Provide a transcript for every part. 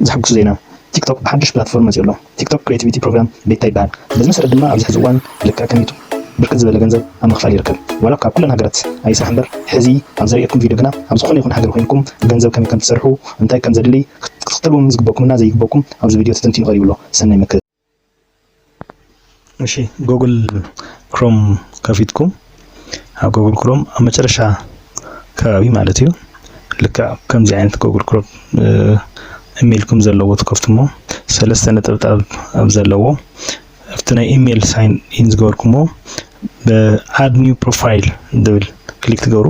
ዘሐጉስ ዜና ቲክቶክ ብሓዱሽ ፕላትፎርም መፂኡ ኣሎ። ቲክቶክ ክሬቲቪቲ ፕሮግራም ቤታ ይበሃል። በዚ መሰረት ድማ ኣብዚ ሕዚ እዋን ልክዕ ከም ዩቱብ ብርክት ዝበለ ገንዘብ ኣብ ምኽፋል ይርከብ። ዋላ እኳ ኣብ ኩለን ሃገራት ኣይስራሕ እምበር ሕዚ ኣብ ዘርእየኩም ቪድዮ ግና ኣብ ዝኾነ ይኹን ሃገር ኮይንኩም ገንዘብ ከመይ ከምትሰርሑ እንታይ ከምዘድሊ ክትክተልዎም ዝግበእኩምና ዘይግበእኩም ኣብዚ ቪድዮ ተተንቲኑ ቀሪቡ ኣሎ። ሰናይ መከ እሺ ጎግል ክሮም ከፊትኩም ኣብ ጎግል ክሮም ኣብ መጨረሻ ከባቢ ማለት እዩ ልክዕ ከምዚ ዓይነት ጎግል ክሮም ኢሜይልኩም ዘለዎ ትከፍትሞ ሰለስተ ነጠብጣብ ኣብ ዘለዎ ኣብቲ ናይ ኢሜይል ሳይን ኢን ዝገበርኩሞ ብኣድ ኒው ፕሮፋይል ዝብል ክሊክ ትገብሩ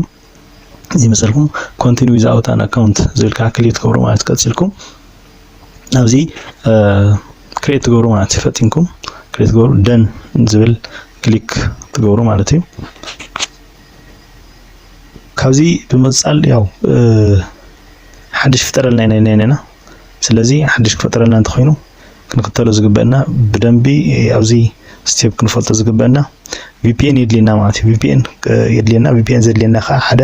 ዝመሰልኩም ኮንቲኒ ዊዝ ኣውት ኣን ኣካውንት ዝብል ከዓ ክሊክ ትገብሩ ማለት ቀፂልኩም ኣብዚ ክሬት ትገብሩ ማለት እዩ ፈጢንኩም ክሬት ትገብሩ ደን ዝብል ክሊክ ትገብሩ ማለት እዩ ካብዚ ብምቅፃል ያው ሓድሽ ፍጠረልና ኢና ኢልና ኢና ስለዚ ሓድሽ ክፈጥረልና እንተኾይኑ ክንክተሎ ዝግበእና ብደንቢ ኣብዚ ስቴፕ ክንፈልጦ ዝግበእና ቪፒኤን የድልየና ማለት እዩ። ቪፒኤን የድልየና ቪፒኤን ዘድልየና ከዓ ሓደ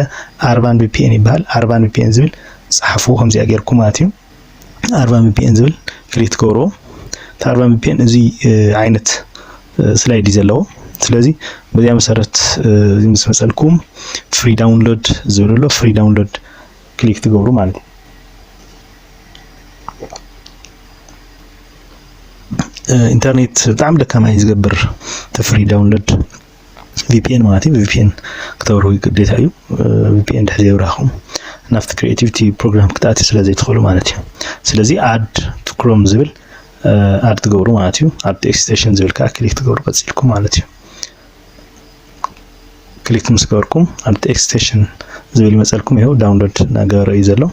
ኣርባን ቪፒኤን ይበሃል። ኣርባን ቪፒኤን ዝብል ጸሓፉ ከምዚኣ ጌርኩ ማለት እዩ። ኣርባን ቪፒኤን ዝብል ክሊክ ትገብርዎ እቲ ኣርባን ቪፒኤን እዚ ዓይነት ስላይድ እዩ ዘለዎ። ስለዚ በዚኣ መሰረት እዚ ምስ መጸልኩም ፍሪ ዳውንሎድ ዝብል ኣሎ ፍሪ ዳውንሎድ ክሊክ ትገብሩ ማለት እዩ። ኢንተርኔት ብጣዕሚ ደካማ እዩ ዝገብር ተፍሪ ዳውንሎድ ቪፒኤን ማለት እዩ ቪፒኤን ክተብርሁ ግዴታ እዩ ቪፒኤን ድሕዚ የብራኹም ናብቲ ክሪኤቲቪቲ ፕሮግራም ክትኣት ስለ ዘይትኽእሉ ማለት እዩ ስለዚ ኣድ ክሮም ዝብል ኣድ ትገብሩ ማለት እዩ ኣብቲ ኤክስቴሽን ዝብል ከዓ ክሊክ ትገብሩ ቀፂልኩም ማለት እዩ ክሊክ ምስ ገበርኩም ኣብቲ ኤክስቴንሽን ዝብል ይመፀልኩም ይኸው ዳውንሎድ እናገበረ እዩ ዘሎ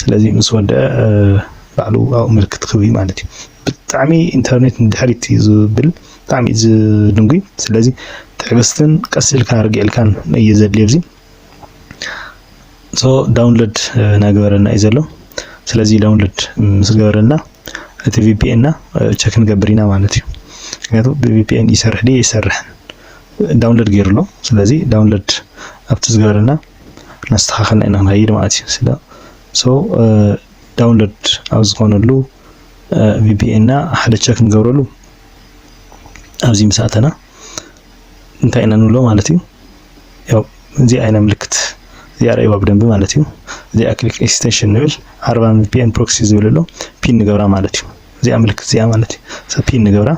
ስለዚ ምስ ወደአ ባዕሉ ኣብኡ ምልክት ክብ ማለት እዩ ብጣዕሚ ኢንተርኔት ንድሕሪት እዩ ዝብል ብጣዕሚ እዩ ዝድንጉይ ስለዚ ትዕግስትን ቀስ ኢልካ ርግዕ ኢልካን እዩ ዘድልዮ እዚ ሶ ዳውንሎድ ናገበረና እዩ ዘሎ ስለዚ ዳውንሎድ ምስ ገበረና እቲ ቪፒኤንና ቸክ ንገብር ኢና ማለት እዩ ምክንያቱ ብቪፒኤን ይሰርሕ ድዩ ይሰርሕን ዳውንሎድ ገይሩ ኣሎ ስለዚ ዳውንሎድ ኣብቲ ዝገበረና እናስተኻኸልና ኢና ንኸይድ ማለት እዩ ስለ ሶ ዳውንሎድ ኣብ ዝኾነሉ ቪፒኤንና ሓደ ቸክ ንገብረሉ ኣብዚ ምስ ኣተና እንታይ ኢና ንብሎ ማለት እዩ ያው እዚኣ ኢና ምልክት እዚኣ ረእይዋ ብደንቢ ማለት እዩ እዚኣ ክሊክ ኤክስቴንሽን ንብል ዓርባ ፒኤን ፕሮክሲ ዝብል ኣሎ ፒን ንገብራ ማለት እዩ እዚኣ ምልክት እዚኣ ማለት እዩ ሰብ ፒን ንገብራ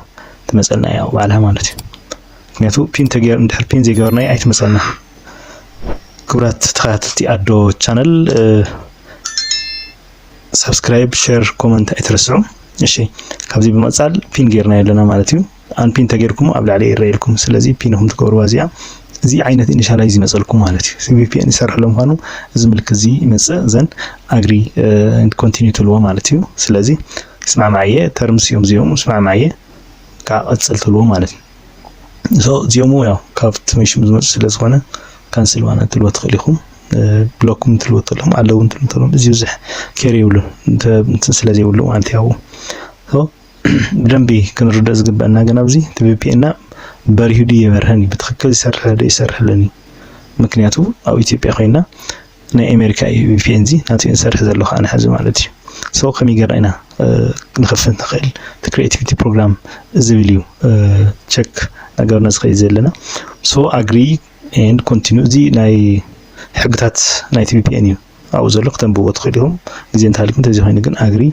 ትመፀልና እያ ባዕላ ማለት እዩ ምክንያቱ ፒን ተገይር እንድሕር ፒን ዘይገበርና ኣይትመፀልና ክብራት ተኸታተልቲ ኣዶ ቻነል ሰብስክራይብ ሸር ኮመንት ኣይትረስዑ እሺ ካብዚ ብምቕፃል ፒን ገይርና ኣለና ማለት እዩ ኣን ፒን ተገይርኩሞ ኣብ ላዕሊ ይረኣየልኩም ስለዚ ፒን ኢኹም ትገብርዋ እዚኣ እዚ ዓይነት ኢኒሻላይዝ ይመፀልኩም ማለት እዩ እዚ ቪፒኤን ይሰርሕ ሎ ምኳኑ እዚ ምልክት እዚ ይመፅእ ዘን ኣግሪ ኮንቲኒ ትልዎ ማለት እዩ ስለዚ ስማዕማዕ እየ ተርምስ እዮም እዚኦም ስማዕማዕ እየ ከዓ ቀፅል ትልዎ ማለት እዩ ሶ እዚኦም ያው ካብ ትምሽም ዝመፁ ስለ ዝኾነ ካንስል ዋና ትልዎ ትኽእል ኢኹም ብሎክ ውን ትልዎ ተለኹም ኣለዉ ትልዎ ተለኹም እዚ ብዙሕ ኬር የብሉን እንትን ስለ ዘይብሉ ማለት ያው ብደንቢ ክንርደእ ዝግበአና ግን ኣብዚ እቲ ቪፒኤና በሪሁ ድዩ የበርሀን እዩ ብትክክል ይሰርሕ ዶ ይሰርሕልን እዩ ምክንያቱ ኣብ ኢትዮጵያ ኮይና ናይ ኣሜሪካ እዩ ቪፒኤን እዚ ናቱ ንሰርሕ ዘሎ ከዓ ንሕዚ ማለት እዩ ሰው ከመይ ጌርና ኢና ንኸፍት ንኽእል እቲ ክሪኤቲቪቲ ፕሮግራም ዝብል እዩ ቸክ ነገርና ዝኸይድ ዘለና ሶ ኣግሪ ኤንድ ኮንቲኒ እዚ ናይ ሕግታት ናይቲ ቪፒኤን እዩ ኣብኡ ዘሎ ክተንብዎ ትኽእሉ ኢኹም ግዜ እንተሃልዩኩም እንተዘይ ኮይኑ ግን ኣግሪ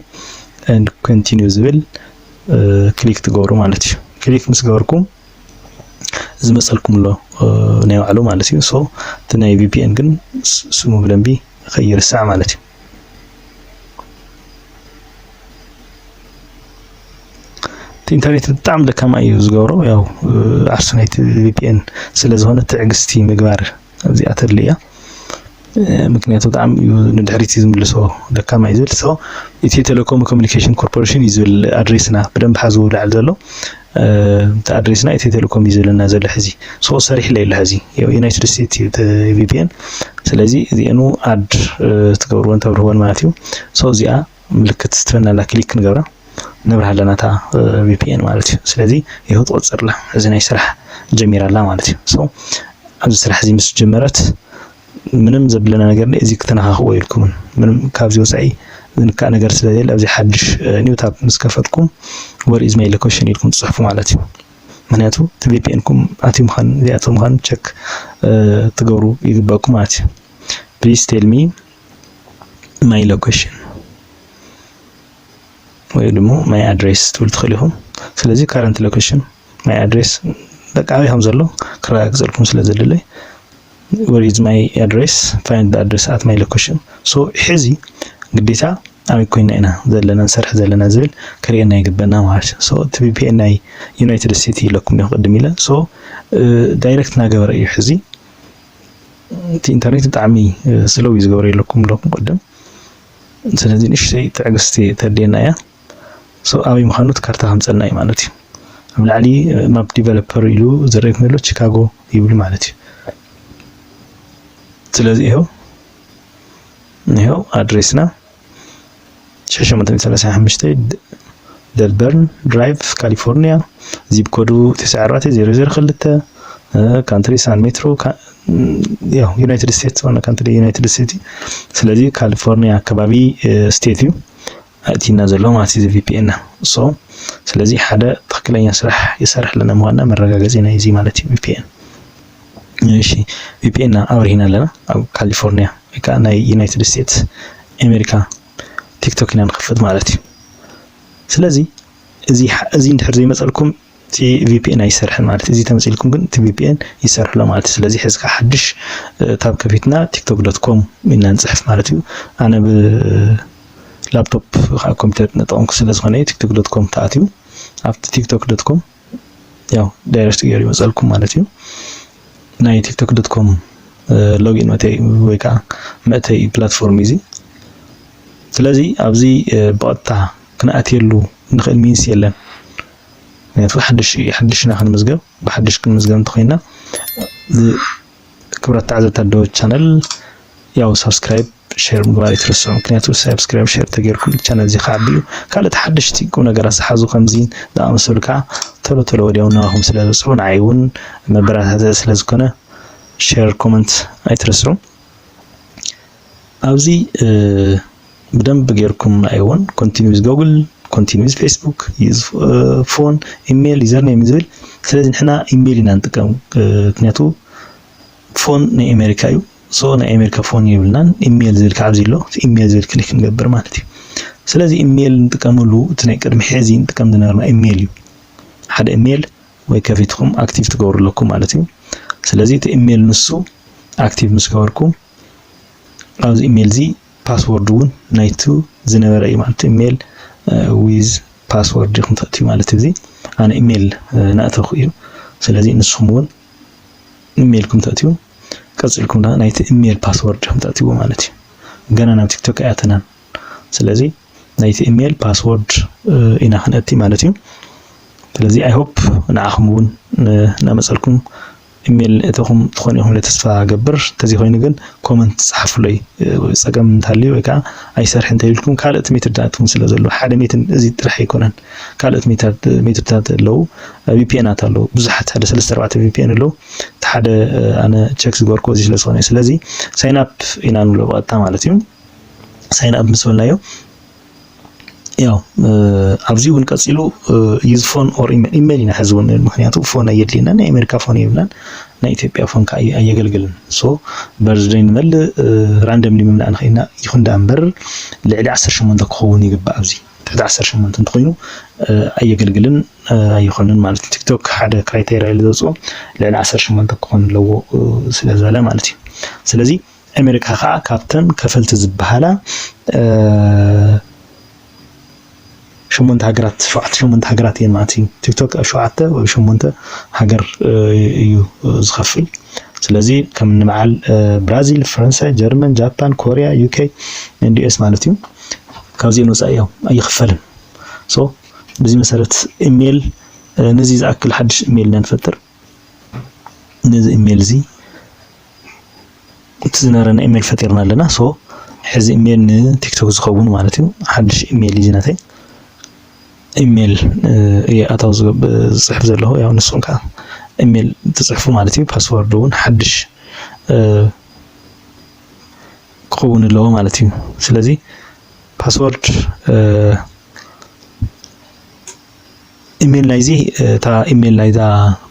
ኤንድ ኮንቲኒዩ ዝብል ክሊክ ትገብሩ ማለት እዩ ክሊክ ምስ ገበርኩም ዝመፀልኩም ኣሎ ናይ ባዕሉ ማለት እዩ ሶ እቲ ናይ ቪፒኤን ግን ስሙ ብደንቢ ከይርሳዕ ማለት እዩ እቲ ኢንተርኔት ብጣዕሚ ደካማ እዩ ዝገብሮ ያው ዓርሱ ናይቲ ቪፒኤን ስለዝኾነ ትዕግስቲ ምግባር ኣብዚኣ ተድሊ እያ ምክንያቱ ብጣዕሚ እዩ ንድሕሪት እዩ ዝምልሶ ደካማ እዩ ዝብል ሰው ኢትዮ ቴሌኮም ኮሚኒኬሽን ኮርፖሬሽን እዩ ዝብል ኣድሬስና ብደንብ ሓዝዎ ላዕሊ ዘሎ እቲ ኣድሬስና ኢትዮ ቴሌኮም እዩ ዝብለና ዘሎ ሕዚ ሶ ሰሪሕለ የለ ሕዚ ዩናይትድ ስቴትስ እዩ ቪፒኤን ስለዚ እዚኤኑ ኣድ ትገብርዎን ተብርህዎን ማለት እዩ ሶ እዚኣ ምልክት ስትበናላ ክሊክ ክንገብራ ነብርሃ ኣለና እታ ቪፒኤን ማለት እዩ ስለዚ ይኸው ትቆፅርላ እዚ ናይ ስራሕ ጀሚራ ኣላ ማለት እዩ ሶ ኣብዚ ስራሕ እዚ ምስ ጀመረት ምንም ዘብለና ነገር ነ እዚ ክተነኻኽዎ የልኩምን ምንም ካብዚ ወፃኢ ዝንካእ ነገር ስለዘየለ ኣብዚ ሓድሽ ኒው ታብ ምስ ከፈትኩም ወር ኢዝ ማይ ሎኬሽን ኢልኩም ትፅሕፉ ማለት እዩ ምክንያቱ እቲ ቪፒኤንኩም ኣትዩ ምዃን ዘይኣትው ምዃን ቸክ ትገብሩ ይግበኣኩም ማለት እዩ ፕሊስ ቴልሚ ማይ ሎኬሽን ወይ ድማ ማይ ኣድሬስ ትብል ትኽእሉ ኢኹም። ስለዚ ካረንት ሎኬሽን ማይ ኣድሬስ በቃ ኣበይ ከም ዘሎ ክረጋግፀልኩም ስለ ዘድለይ ወር ኢዝ ማይ ኣድሬስ ፋይንድ ኣድሬስ ኣት ማይ ሎኬሽን ሶ ሕዚ ግዴታ ኣበይ ኮይና ኢና ዘለና ንሰርሕ ዘለና ዝብል ክርእየና ይግበና ማለት እዩ ሶ እቲ ቪፒኤን ናይ ዩናይትድ ስቴትስ ኢለኩም ዲኹ ቅድም ኢለ ሶ ዳይሬክት እናገበረ እዩ ሕዚ እቲ ኢንተርኔት ብጣዕሚ ስለው እዩ ዝገብረ የለኩም ኣለኩም ቅድም ስለዚ ንእሽተይ ትዕግስቲ ተድልየና እያ ሶ ኣበይ ምዃኑ እቲ ካርታ ከምፀና እዩ ማለት እዩ ኣብ ላዕሊ ማፕ ዲቨሎፐር ኢሉ ዝረእየኩም ዘሎ ቺካጎ ይብሉ ማለት እዩ ስለዚ ይኸው ይኸው ኣድሬስና 635 ደልበርን ድራይቭ ካሊፎርኒያ ዚፕ ኮዱ 94002 ካንትሪ ሳን ሜትሮ ያው ዩናይትድ ስቴትስ ዋና ካንትሪ ዩናይትድ ስቴትስ እዩ ስለዚ ካሊፎርኒያ ከባቢ ስቴት እዩ ኣእቲና ዘሎ ማለት እዩ ቪፒኤና ሶ ስለዚ ሓደ ትክክለኛ ስራሕ ይሰርሕ ኣለና ምኳንና መረጋገፂ ናይ እዚ ማለት እዩ ቪፒኤን እሺ ቪፒኤን ኣብሪህና ኣለና ኣብ ካሊፎርኒያ ወይ ከዓ ናይ ዩናይትድ ስቴትስ ኣሜሪካ ቲክቶክ ኢና ንኸፍት ማለት እዩ ስለዚ እዚ እዚ እንድሕር ዘይመፀልኩም እቲ ቪፒኤን ኣይሰርሕን ማለት እዚ ተመፂልኩም ግን እቲ ቪፒኤን ይሰርሕሎ ማለት እዩ ስለዚ ሕዚ ከዓ ሓድሽ ታብ ከፊትና ቲክቶክ ዶት ኮም ኢና ንፅሕፍ ማለት እዩ ኣነ ብላፕቶፕ ከዓ ኮምፒተር ንጠቐምኩ ስለዝኾነ ቲክቶክ ዶት ኮም ተኣትዩ ኣብቲ ቲክቶክ ዶት ኮም ያው ዳይሬክት ገይሩ ይመፀልኩም ማለት እዩ ናይ ቲክቶክ ዶት ኮም ሎጊን መተይ ወይ ከዓ መእተይ ፕላትፎርም እዚ ስለዚ ኣብዚ ብቐጥታ ክንኣትየሉ ንኽእል ሚንስ የለን ምክንያቱ ሓድሽ ሓድሽና ክንምዝገብ ብሓድሽ ክንምዝገብ እንተኮይና ክብራት ተዓዘብቲ ኣደወ ቻነል ያው ሳብስክራይብ ሼር ምግባር ይትረስዑ ምክንያቱ ሳብስክራይብ ሼር ተገይርኩም ቻነል እዚ ክዓቢ እዩ ካልኦት ሓደሽቲ ቁም ነገራት ዝሓዙ ከምዚ ዝኣመሰሉ ከዓ ቶሎ ቶሎ ወዲያው ናባኹም ስለ ዝበፅሑ ንዓይ እውን መበረታትዒ ስለ ዝኾነ ሼር ኮመንት ኣይትረስዑ ኣብዚ ብደንብ ጌርኩም ኣይዎን ኮንቲኒው ዊዝ ጎግል ኮንቲኒው ዊዝ ፌስቡክ ዩዝ ፎን ኢሜይል ዩዘር ኔም ዝብል ስለዚ ንሕና ኢሜይል ኢና ንጥቀም ምክንያቱ ፎን ናይ ኣሜሪካ እዩ ሶ ናይ ኣሜሪካ ፎን የብልናን ኢሜይል ዝብል ከዓ ኣብዚ ኣሎ እቲ ኢሜይል ዝብል ክሊክ ንገብር ማለት እዩ ስለዚ ኢሜይል ንጥቀመሉ እቲ ናይ ቅድሚ ሕዚ ንጥቀም ዝነበርና ኢሜይል እዩ ሓደ ኢሜይል ወይ ከፊትኩም ኣክቲቭ ትገብሩ ኣለኩም ማለት እዩ ስለዚ እቲ ኢሜይል ንሱ ኣክቲቭ ምስ ገበርኩም ኣብዚ ኢሜል እዚ ፓስወርድ እውን ናይቲ ዝነበረ እዩ ማለት ኢሜል ዊዝ ፓስወርድ ኢኹም ተእትዩ ማለት እዚ ኣነ ኢሜል ናእተኹ እዩ ስለዚ ንስኹም እውን ኢሜልኩም ተእትዩ ቀፂልኩም ዳ ናይቲ ኢሜል ፓስወርድ ኢኹም ተእትይዎ ማለት እዩ ገና ናብ ቲክቶክ ኣያተናን ስለዚ ናይቲ ኢሜል ፓስወርድ ኢና ክንእቲ ማለት እዩ ስለዚ ኣይሆፕ ንዓኹም እውን ናመፀልኩም ኢሜል እተኹም ትኾኑ ኢኹም ኢለ ተስፋ እገብር ተዘይኾይኑ ግን ኮመንት ጸሓፉለይ ጸገም እንተሃልዩ ወይ ከኣ ኣይሰርሕን እንተኢልኩም ካልእት ሜትድታት እውን ስለ ዘሎ ሓደ ሜትድ እዚ ጥራሕ ኣይኮነን ካልእት ሜትድታት ኣለዉ ቪፒኤናት ኣለዉ ብዙሓት ሓደ ሰለስተ ኣርባዕተ ቪፒኤን ኣለዉ እቲ ሓደ ኣነ ቸክ ዝገበርኩዎ እዚ ስለ ዝኾነ እዩ ስለዚ ሳይን ኣፕ ኢና ንብሎ ብቐጥታ ማለት እዩ ሳይን ኣፕ ምስ በልናዮ ያው ኣብዚ እውን ቀፂሉ ዩዝ ፎን ኦር ኢሜል ኢና ሕዚ እውን ምክንያቱ ፎን ኣየድልየና ናይ ኣሜሪካ ፎን የብልናን ናይ ኢትዮጵያ ፎን ከዓ ኣየገልግልን ሶ በርዝደይ ንመልእ ራንደምሊ ምምላእ ንኽእልና ይኹን ዳኣ እምበር ልዕሊ ዓሰርተ ሸሞንተ ክኸውን ይግባእ ኣብዚ ትሕቲ ዓሰርተ ሸሞንተ እንተኾይኑ ኣየገልግልን ኣይኾንን ማለት እዩ ቲክቶክ ሓደ ክራይቴሪያ ኢሉ ዘውፅኦ ልዕሊ ዓሰርተ ሸሞንተ ክኾን ኣለዎ ስለዝበለ ማለት እዩ ስለዚ ኣሜሪካ ከዓ ካብተን ከፈልቲ ዝበሃላ ሸሞንተ ሃገራት ሸውዓተ ሸሞንተ ሃገራት እየን ማለት እዩ። ቲክቶክ ኣብ ሸውዓተ ወይ ሸሞንተ ሃገር እዩ ዝኸፍል። ስለዚ ከም ንበዓል ብራዚል፣ ፈረንሳይ፣ ጀርመን፣ ጃፓን፣ ኮሪያ፣ ዩኬ ኤንድ ዩኤስ ማለት እዩ ካብዚኤን ወፃኢ እዮም ኣይኽፈልን። ሶ በዚ መሰረት ኢሜል ነዚ ዝኣክል ሓድሽ ኢሜል ኢና ንፈጥር። ነዚ ኢሜል እዚ እቲ ዝነበረና ኢሜል ፈጢርና ኣለና ሶ ሕዚ ኢሜል ንቲክቶክ ዝኸውን ማለት እዩ ሓድሽ ኢሜል እዩ ናተይ ኢሜል እየ ኣታው ዝፅሕፍ ዘለኹ ያው ንስኹም ከዓ ኢሜል ትፅሕፉ ማለት እዩ ፓስወርድ እውን ሓድሽ ክኸውን ኣለዎ ማለት እዩ ስለዚ ፓስወርድ ኢሜል ናይዚ እታ ኢሜል ናይዛ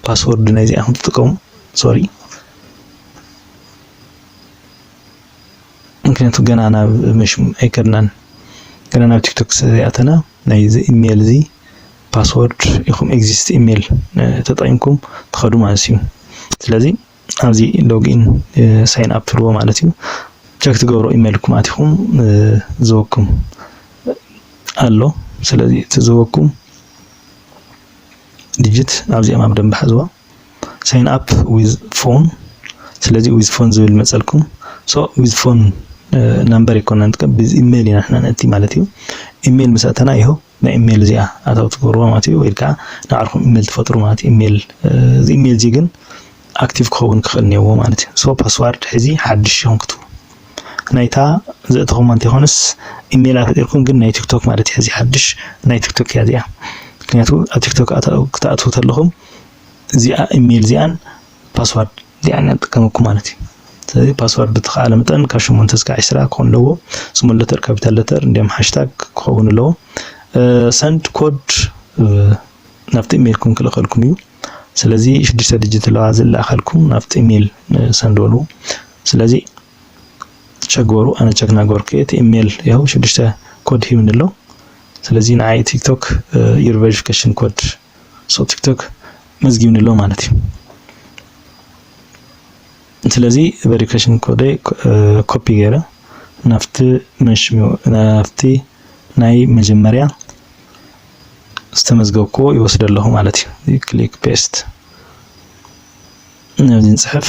ፓስወርድ ናይዚኣ ከም ትጥቀሙ ሶሪ ምክንያቱ ገና ናብ መሽም ኣይከድናን ገና ናብ ቲክቶክ ስለዘይኣተና ናይዚ ኢሜል እዚ ፓስወርድ ኢኹም ኤግዚስት ኢሜል ተጠቂምኩም ትኸዱ ማለት እዩ ስለዚ ኣብዚ ሎግኢን ሳይን ኣፕ ትብልዎ ማለት እዩ ቸክ ትገብሮ ኢሜልኩም ኣቲኹም ዝወኩም ኣሎ ስለዚ እቲ ዝወኩም ዲጂት ኣብዚኦም ኣብ ደንብ ሓዝዋ ሳይን ኣፕ ዊዝ ፎን ስለዚ ዊዝ ፎን ዝብል መፀልኩም ሶ ዊዝ ፎን ናምበር ይኮና ንጥቀም ብዚ ኢሜይል ኢና ንሕና ነእቲ ማለት እዩ ኢሜይል ምስ ኣተና ይኸው ናይ ኢሜል እዚኣ ኣታዊ ትገብርዋ ማለት እዩ ወይ ከኣ ንባዕልኩም ኢሜል ትፈጥሩ ማለት እዩ ኢሜል እዚ ኢሜል እዚ ግን ኣክቲቭ ክኸውን ክኽእል እኒኦዎ ማለት እዩ ሶ ፓስዋርድ ሕዚ ሓድሽ ኢኹም ክትቡ ናይታ ዘእተኹማ እንተይኮነስ ኢሜላ ፈጢርኩም ግን ናይ ቲክቶክ ማለት እዩ ሕዚ ሓድሽ ናይ ቲክቶክ እያ እዚኣ ምክንያቱ ኣብ ቲክቶክ ክትኣትዉ ተለኹም እዚኣ ኢሜል እዚኣን ፓስዋርድ እዚኣ ኢና ንጥቀመኩም ማለት እዩ። ስለዚ ፓስዋርድ ብተኸኣለ መጠን ካብ ሸሞንተ እስካዕ ዕስራ ክኾን ኣለዎ። ስሞል ለተር ካፒታል ለተር እንዲም ሃሽታግ ክኸውን ኣለዎ። ሰንድ ኮድ ናብቲ ኢሜይልኩም ክልእኸልኩም እዩ። ስለዚ ሽዱሽተ ድጅት ኣለዋ ዝለኣኸልኩም ናብቲ ኢሜይል ሰንድ በሉ። ስለዚ ቸክ ገበሩ ኣነ ቸክ ናገበርኩ እቲ ኢሜይል ያው ሽዱሽተ ኮድ ሂብኒ ኣሎ። ስለዚ ንዓይ ቲክቶክ ዩር ቬሪፊኬሽን ኮድ ሶ ቲክቶክ መዝጊብኒ ኣሎ ማለት እዩ ስለዚ ቨሪፊኬሽን ኮደይ ኮፒ ገይረ ናብቲ መንሽሚኡ ናብቲ ናይ መጀመርያ ዝተመዝገብክዎ ይወስደ ኣለኹ ማለት እዩ ክሊክ ፔስት ነዚ ንፅሕፍ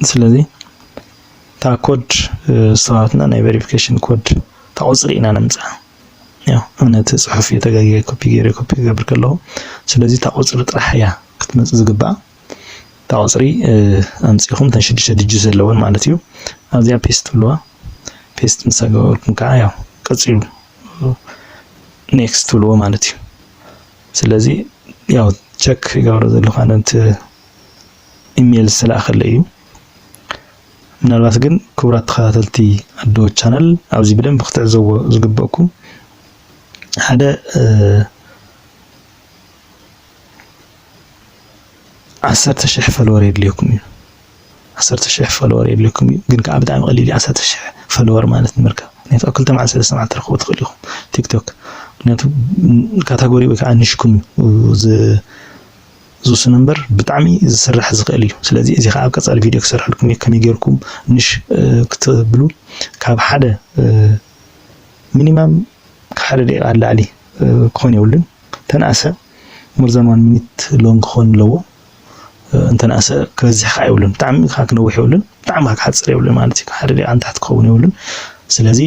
ስለዚ እታ ኮድ ሰባትና ናይ ቨሪፊኬሽን ኮድ እታ ቁፅሪ ኢና ነምፅኣ ያው እምነት ፅሑፍ እዩ ተጋጊየ ኮፒ ገይረ ኮፒ ክገብር ከለኹ ስለዚ እታ ቁፅሪ ጥራሕ እያ ክትመፅእ ዝግብኣ እታ ቁፅሪ ኣምፂኹም እተን ሽዱሽተ ድጅ ዘለወን ማለት እዩ ኣብዚኣ ፔስት ትብልዋ ፔስት ምስ ኣገበርኩም ከዓ ያው ቀፂሉ ኔክስት ትብልዎ ማለት እዩ ስለዚ ያው ቸክ ይገብሮ ዘለኹ ኣነ እቲ ኢሜይል ዝተላእከለ እዩ ምናልባት ግን ክቡራት ተኸታተልቲ ኣዶ ቻናል ኣብዚ ብደንብ ክትዕዘዎ ዝግበእኩም ሓደ ዓሰርተ ሽሕ ፈልወር የድልየኩም እዩ ዓሰርተ ሽሕ ፈልወር የድልየኩም እዩ ግን ከዓ ብጣዕሚ ቀሊል እዩ ዓሰርተ ሽሕ ፈልወር ማለት ንምርካብ ምክንያቱ ኣብ ክልተ መዓልቲ ሰለስተ መዓልቲ ትረኽቡ ትኽእሉ ኢኹም ቲክቶክ ምክንያቱ ካታጎሪ ወይ ከዓ ንሽኩም እዩ ዝውስኖ እምበር ብጣዕሚ ዝስራሕ ዝኽእል እዩ። ስለዚ እዚ ከዓ ኣብ ቀፃሊ ቪድዮ ክሰርሐልኩም እየ ከመይ ጌርኩም ንሽ ክትብሉ ካብ ሓደ ሚኒማም ካብ ሓደ ደቂቃ ንላዕሊ ክኾን የብሉን ተነኣሰ ሞርዛን ዋን ሚኒት ሎንግ ክኾን ኣለዎ እንተነኣሰ ክበዝሕ ከዓ የብሉን ብጣዕሚ ከዓ ክነውሕ የብሉን ብጣዕሚ ከዓ ክሓፅር የብሉን ማለት እዩ ሓደ ደቂቃ ንታሕቲ ክኸውን የብሉን ስለዚ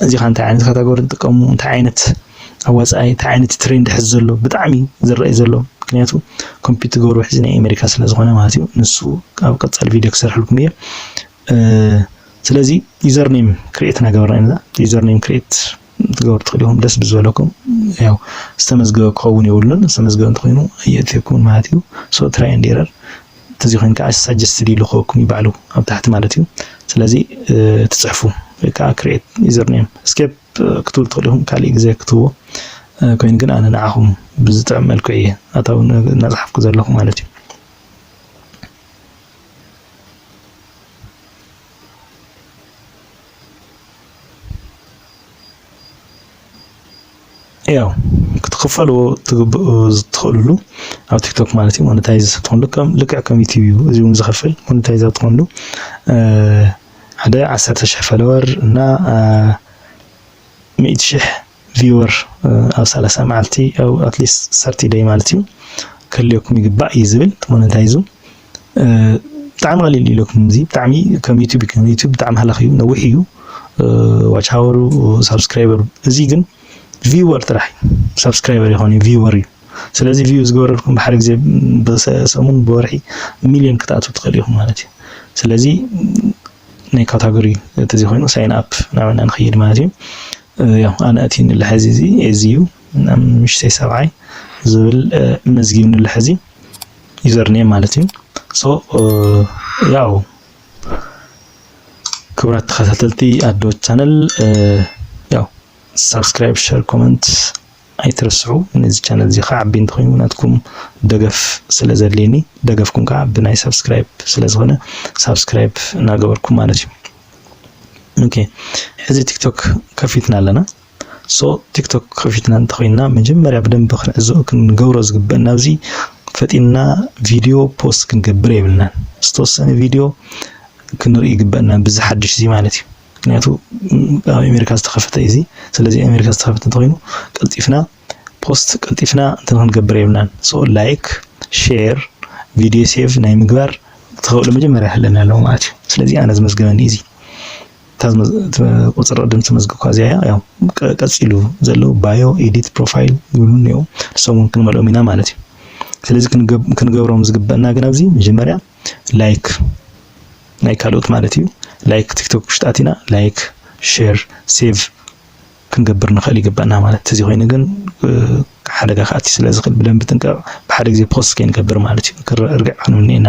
እዚኸ እንታይ ዓይነት ካታጎሪ ንጥቀሙ እንታይ ዓይነት ኣዋፃኣይ እንታይ ዓይነት ትሬንድ ሕዚ ዘሎ ብጣዕሚ ዝረኣይ ዘሎ ምክንያቱ ኮምፒት ትገብሩ ሕዚ ናይ ኣሜሪካ ስለ ዝኾነ ማለት እዩ ንሱ ኣብ ቀፃሊ ቪድዮ ክሰርሕልኩም እየ ስለዚ ዩዘር ኔም ክሬት እናገበርና ኢና ዩዘር ኔም ክሬት ትገብሩ ትኽእሉ ኢኹም ደስ ብዝበለኩም ያው ዝተመዝገበ ክኸውን የብሉን ዝተመዝገበ እንተኾይኑ የእትየኩም ማለት እዩ ሶ ትራይ ንዴረር ተዚ ኮይኑ ከኣ ሳጀስትድ ይልክወኩም እዩ ባዕሉ ኣብ ታሕቲ ማለት እዩ ስለዚ ትጽሕፉ ወይ ከኣ ክሬት ዩዘር ኔም ስኬፕ ክትብሉ ትኽእሉ ኢኹም ካልእ ግዜ ክትብዎ ኮይኑ ግን ኣነ ንዓኹም ብዝጥዕም መልክዑ እየ ኣታዊ እናጽሓፍኩ ዘለኹ ማለት እዩ ያው ክትክፈልዎ ትግብኡ ዝትኽእልሉ ኣብ ቲክቶክ ማለት እዩ ሞኔታይዝ ትኾንሉ ከም ልክዕ ከም ዩቲብ እዩ እዚ እውን ዝኸፍል ሞኔታይዝ ኣብ ትኾንሉ ሓደ ዓሰርተ ሽሕ ፈለወር እና ሚእቲ ሽሕ ቪወር ኣብ ሰላሳ መዓልቲ ኣብ ኣትሊስት ሰርቲ ደይ ማለት እዩ ክህልየኩም ይግባእ እዩ ዝብል ሞኔታይዙ ብጣዕሚ ቀሊል እዩ ለኩም እዚ ብጣዕሚ ከም ዩቱብ እዩ ከም ዩቱብ ብጣዕሚ ሃላኽ እዩ ነዊሕ እዩ ዋች ሃወሩ ሳብስክራይበሩ እዚ ግን ቪወር ጥራሕ እዩ ሳብስክራይበር ይኾን እዩ ቪወር እዩ ስለዚ ቪው ዝገበረልኩም ብሓደ ግዜ ብሰሙን ብወርሒ ሚሊዮን ክትኣትው ትኽእል ኢኹም ማለት እዩ ስለዚ ናይ ካታጎሪ ተዚ ኮይኑ ሳይን ኣፕ ናበና ንኸይድ ማለት እዩ ያው ኣነ እቲ ንልሐዚ እዚ እዚ እዩ ምሽተይ ሰብዓይ ዝብል መዝጊብ ንልሐዚ ዩዘር ኔም ማለት እዩ ሶ ያው ክብራት ተኸታተልቲ ኣዶ ቻነል ያው ሳብስክራይብ ሸር ኮመንት ኣይትረስዑ ነዚ ቻነል እዚ ከዓቢ እንተኮይኑ ናትኩም ደገፍ ስለ ዘድልየኒ ደገፍኩም ከዓ ብናይ ሳብስክራይብ ስለ ዝኾነ ሳብስክራይብ እናገበርኩም ማለት እዩ ኦኬ ሕዚ ቲክቶክ ከፊትና ኣለና ሶ ቲክቶክ ከፊትና እንተኾይና መጀመርያ ብደንብ ክንዕዘቦ ክንገብሮ ዝግበእ ናብዚ ፈጢንና ቪድዮ ፖስት ክንገብር የብልናን። ዝተወሰነ ቪድዮ ክንርኢ ይግበእና ብዚ ሓድሽ እዚ ማለት እዩ። ምክንያቱ ኣብ ኣሜሪካ ዝተኸፈተ እዩ እዚ። ስለዚ ኣሜሪካ ዝተኸፈተ እንተኾይኑ ቀልጢፍና ፖስት ቀልጢፍና እንትን ክንገብር የብልናን። ሶ ላይክ ሼር ቪድዮ ሴቭ ናይ ምግባር ተኸእሎ መጀመርያ ይህለና ኣለዎ ማለት እዩ። ስለዚ ኣነ ዝመዝገበኒ እዚ እታ ቁፅሪ ቅድም ተመዝግብካ እዚኣ እያ ያው ቀፂሉ ዘለዉ ባዮ ኤዲት ፕሮፋይል ይብሉ እኒኦ ንሶም እውን ክንመልኦም ኢና ማለት እዩ ስለዚ ክንገብሮም ዝግበአና ግን ኣብዚ መጀመርያ ላይክ ናይ ካልኦት ማለት እዩ ላይክ ቲክቶክ ውሽጢ ኣቲና ላይክ ሼር ሴቭ ክንገብር ንኽእል ይግበአና ማለት እዚ ኮይኑ ግን ሓደጋ ከኣቲ ስለ ዝኽእል ብደንብ ጥንቀቕ ብሓደ ግዜ ፖስት ከይንገብር ማለት እዩ እርግዕ ክንውኒ ኢና